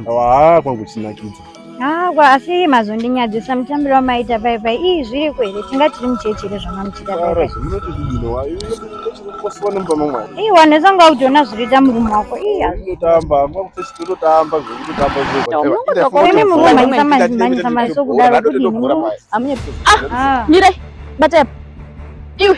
Haa kwangu kuchinakidza. Haa asi mazondinyadzisa mutambiro wamaita pai pai ii zviriko here tinga tiri muchechi here zvamamuchita pai pai. Ii wanesa unga utoona zviriita murume wako ii hazvitotamba totamba zvekutotamba zvekuimi murume manyisa mazimanyisa maso kudaro kudini murume. Ah, ah. Mirai batai apa iwe.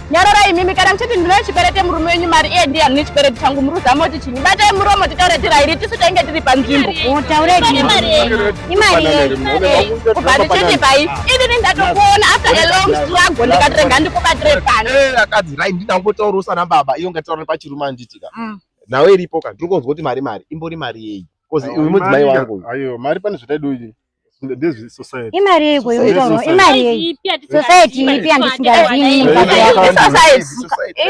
nyararai imimi kana muchiti ndinoyo chiperete murume wenyu mari iye ndiye anone chiperete changu muruza moti chinyi batai muromo titaure tirairi tisu tainge tiri panzvimbo kubva ndichiti pai inini ndatokuona after a long struggle ndikatirega ndikubatire pano eh, akadzi rai ndinangotaurosa nababa iyo ngataura pachirume anditika mm. nhau iripo ka ndiri kunzwa kuti mari mari imbori mari yei bcause uyu mudzimai wangu ayo mari pane zvataidoi ndezve society imari yeiko yekutaurwa imari yei society ipi yandisingazivi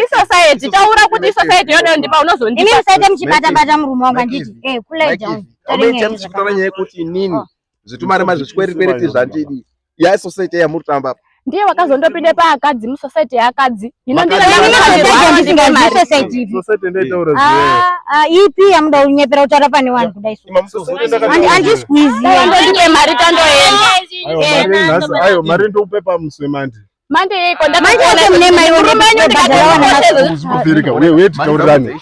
isociety taura kuti society yoda ndipa unozondipa imi musaita muchibata bata murume wangu anditi eh cool down toringa muchikutara nyaya yekuti inini zvitumari mazvichikwerikwereti zvandidi ya society yamuri tamba ndiye wakazondopinda paakadzi musociety yeakadzi hino ipi yamuda kunyepera kutaura pane vanhu kudaisandisqueeziyandondipe mari tandoendayo mari ndokupe pamuswe mandi manje yeiko ndamanje mune mai wekubhadhara wana mazviri weti taurirane